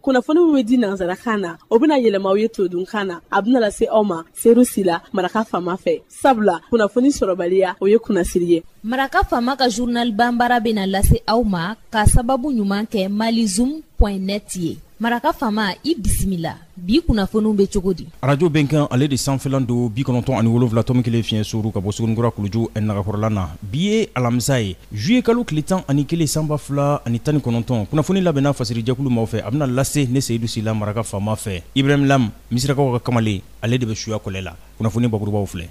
kunnafoni min bɛ di nanzarakan na o bɛna yɛlɛma aw ye todunkan na a bɛna lase aw ma seyidu sila maraka faama fɛ sabula kunnafoni sɔrɔbaliya o ye kunnasiri ye maraka faama ka journal banbara bɛna lase aw ma ka sababu ɲuman kɛ malizoom point net ye maraka faama i bisimila bi kunnafoniw bɛ cogo di arajo bɛnkan ale de sanfɛlan don bi kɔnɔntɔn ani wolonwula tomi kelen fiɲɛ suru ka bɔ suguninkura kuluju nagakɔrɔla na bi ye alamisa ye zuye kalo tile tan ani kelen sanba fila ani tan ni kɔnɔntɔn kunnafoni labɛnna fasirijɛkulu maaw fɛ a bɛna lase ne seyidu sila maraka faama fɛ ibrahim lam misirakaw ka kamalen ale de bɛ suya kɔlɛ la kunnafoni bakurubaw filɛ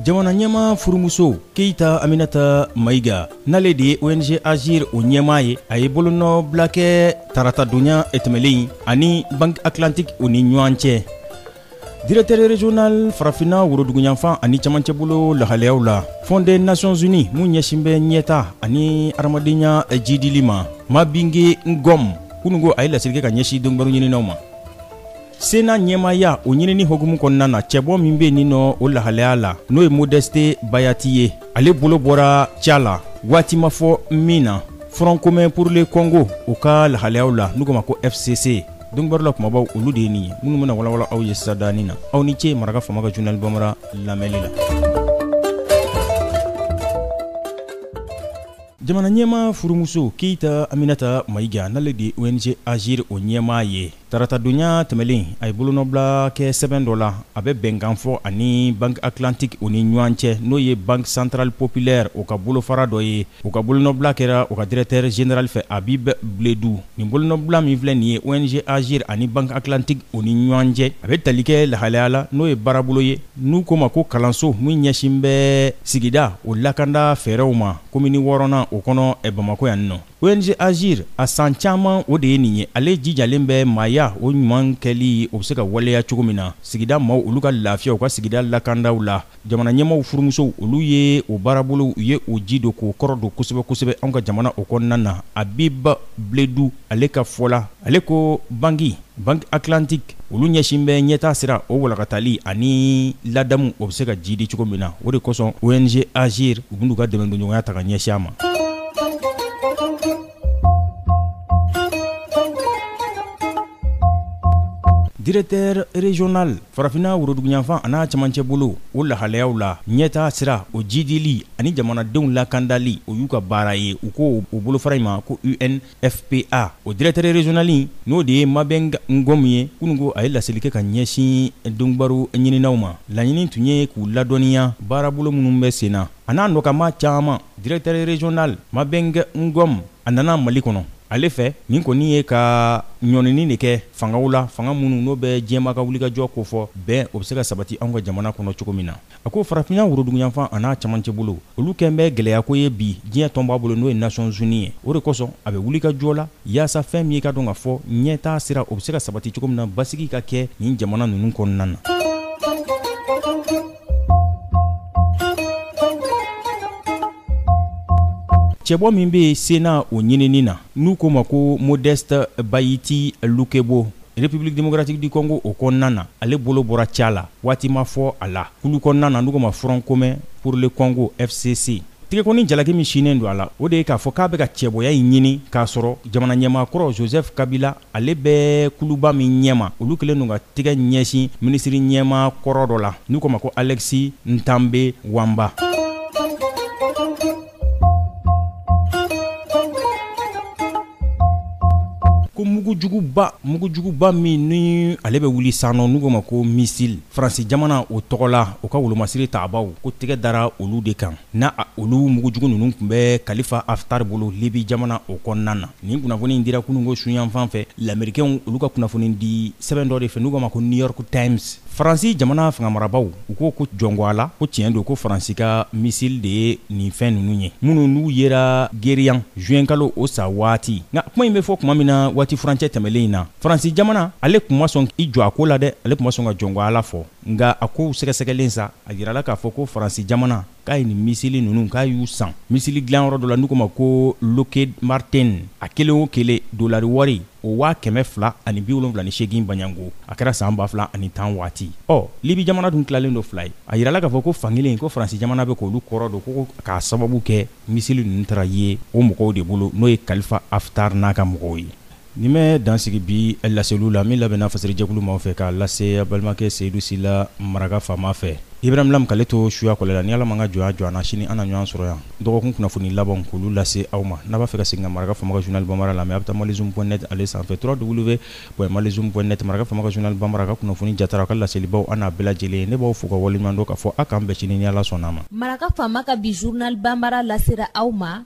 jamana ɲɛmaa furumuso keyita aminata mayiga n'ale de ye ong agir o ɲɛmaa ye a ye bolonɔbila kɛ taratadonya tɛmɛlen ani banki atlantique o ni ɲɔgɔn cɛ Directeur régional farafinna woroduguyanfan ani cɛmancɛbolo lahalayaw la Fonds des Nations Unies mun ɲɛsin bɛ ɲɛtaa ani hadamadenya jidili ma Mabingue Ngom kunungo a ye laseli kɛ ka ɲɛsin donkibaru ɲininaw ma sena ɲɛmaaya o ɲinini hokumu kɔnɔna na cɛbɔ min bɛ nin nɔ o lahalaya la n'o ye modeste bahati ye ale bolo bɔra ca la waati ma fɔ min na front commun pour le congo o ka lahalayaw la n'u ko ma ko fcc donkibaru la kumabaw olu de ye nin ye minnu bɛna walawala aw ye sisan danin na aw ni ce maraka faama ka journal bamara lamɛnni la jamana ɲɛmaa furumuso keyita aminata mayiga n'ale de ong agir o ɲɛmaa ye taratadonya tɛmɛlen a ye bolonɔbila kɛ sɛbɛn dɔ la a bɛ bɛnkan fɔ ani banki atlantique o ni ɲɔgɔn cɛ n'o ye banki centrale populaire o ka bolofara dɔ ye O ka bolonɔbila kɛra o ka directeur général fɛ habib bledou nin bolonɔbila min filɛ nin ye ong agir ani banki atlantique o ni ɲɔgɔn cɛ a bɛ tali kɛ lahalaya la n'o ye baarabolo ye n'u ko ma ko kalanso min ɲɛsin bɛ sigida o lakanda fɛɛrɛw ma komini wɔɔrɔnan o kɔnɔ bamakɔ yan in nɔ ong agir a san caman o de ye nin ye ale jijalen bɛ maaya o ɲuman kɛli o bɛ se ka waleya cogo min na sigida maaw olu ka lafiya u ka sigida lakandaw la jamana ɲɛmaaw furumusow olu ye o baarabolow u ye o ji don k'o kɔrɔ don kosɛbɛ kosɛbɛ anw ka jamana o kɔnɔna na habib bledou ale ka fɔ la ale ko banki banki atlantique olu ɲɛsin bɛ ɲɛtaa sira o walakatali ani ladamu o bɛ se ka jidi cogo min na o de kosɔn ong agir u bɛn'u ka dɛmɛndonɲɔgɔnya ta ka ɲɛsin a ma Directeur régional farafinna woroduguyanfan an'a camancɛ bolo o lahalayaw la ɲɛtaa sira o jidili ani jamanadenw lakandali o y'u ka baara ye u ko o bolofara in ma ko unfpa o directeur régional n'o de ye mabingue ngom ye kunungo a ye laseli kɛ ka ɲɛsin donkibaru ɲininaw ma laɲini tun ye k'u ladɔnniya baarabolo minnu bɛ sen na a n'a nɔkama caman Directeur régional mabingue ngom a nana mali kɔnɔ ale fɛ nin kɔni ye ka ɲɔnini de kɛ fangaw la fanga minnu n'o bɛ diɲɛma ka wulikajɔ ko fɔ bɛn o bɛ se ka sabati anw ka jamana kɔnɔ cogo min na a ko farafinna woroduguyanfan an'a camancɛ bolo olu kɛlen bɛ gɛlɛya ko ye bi diɲɛ tɔnba bolo n'o ye nations unies ye o de kosɔn a bɛ wulikajɔ la yaasa fɛn min ye k'a dɔn k'a fɔ ɲɛtaa sira o bɛ se ka sabati cogo min na basigi ka kɛ nin jamana ninnu kɔnɔna na cɛbɔ min bɛ sénat o ɲinini na n'u ko ma ko modeste bahati lukwebo république démocratique du congo o kɔnɔna na ale bolo bɔra ca la waati ma fɔ a la kulu kɔnɔna na n'u ko ma front commun pour le congo fcc tigɛkɔni jalaki min sinnen don a la o de ye k'a fɔ k'a bɛ ka cɛbɔya in ɲini k'a sɔrɔ jamana ɲɛmaa kɔrɔ joseph kabila ale bɛ kuluba min ɲɛma olu kɛlen don ka tɛgɛ ɲɛsin minisiri ɲɛmaa kɔrɔ dɔ la n'u ko ma ko alexis thambwe mwamba ko mugujuguba mugujuguba min ni ale bɛ wuli sanɔ n'u ko ma ko misili faransi jamana o tɔgɔ la o ka wolomasiri taabaw ko tɛgɛ dara olu de kan N' olu mugujugu ninnu tun bɛ kalifa haftar bolo libi jamana o kɔnɔna na nin kunnafoni dira kunungo suyanfan fɛ lamerikɛnw olu ka kunnafoni di sɛbɛn dɔ de fɛ n'u ko ma ko new york times faransi jamana fanga marabaw u ko ko jɔngɔ a la ko tiɲɛ don ko faransi ka misili de ye nin fɛn ninnu ye minnu n'u yera geriyan zuwɛnkalo o sa waati nka kuma in bɛ fɔ kuma min na waati furancɛ tɛmɛnlen in na faransi jamana ale tun ma sɔn i jɔ a ko la dɛ ale tun ma sɔn ka jɔngɔ a la fɔ nka a kow sɛgɛsɛgɛlen sa a yirala k'a fɔ ko faransi jamana k'a ye nin misili ninnu k'a y'u san misili dilanyɔrɔ dɔ la n'u ko ma ko lockheed martin a kelen o kelen dolari wari o waa kɛmɛ fila ani bi wolonwula ni seegin baɲanko a kɛra san ba fila ani tan waati ɔ libi jamana dun tilalen don fila ye a yirala k'a fɔ ko fan kelen ko faransi jamana bɛ k'olu kɔrɔ don ko k'a sababu kɛ misili ninnu taara ye o mɔgɔw de bolo n'o ye kalifa haftar n'a ka mɔgɔw ye Nin bɛ dansigi bi laseliw la min labɛnna fasɛrɛjɛkulu maaw fɛ k'a lase a balimakɛ Seyidu Sila maraka faama fɛ. Ibrahim Lam k'ale to suya kɔlɛ la, ni Ala ma an ka jɔnya jɔ an na, sini an na ɲɔgɔn sɔrɔ yan dɔgɔkun kunnafoni labanw k'olu lase aw ma. N'a b'a fɛ ka segin ka maraka faama ka journal Banbara lamɛn, a bɛ taa malizoom point net ale sanfɛ www.malizoom point net Maraka faama ka journal Banbara, a ka kunnafoni jatara, a ka laselibaw a n'a bɛɛ lajɛlen ye. Ne b'aw fo k'aw waleɲumandɔn k'a fɔ a k'an bɛn sini ni Ala sɔnn'a ma. Maraka faama ka bi journal Banbara lasera aw ma.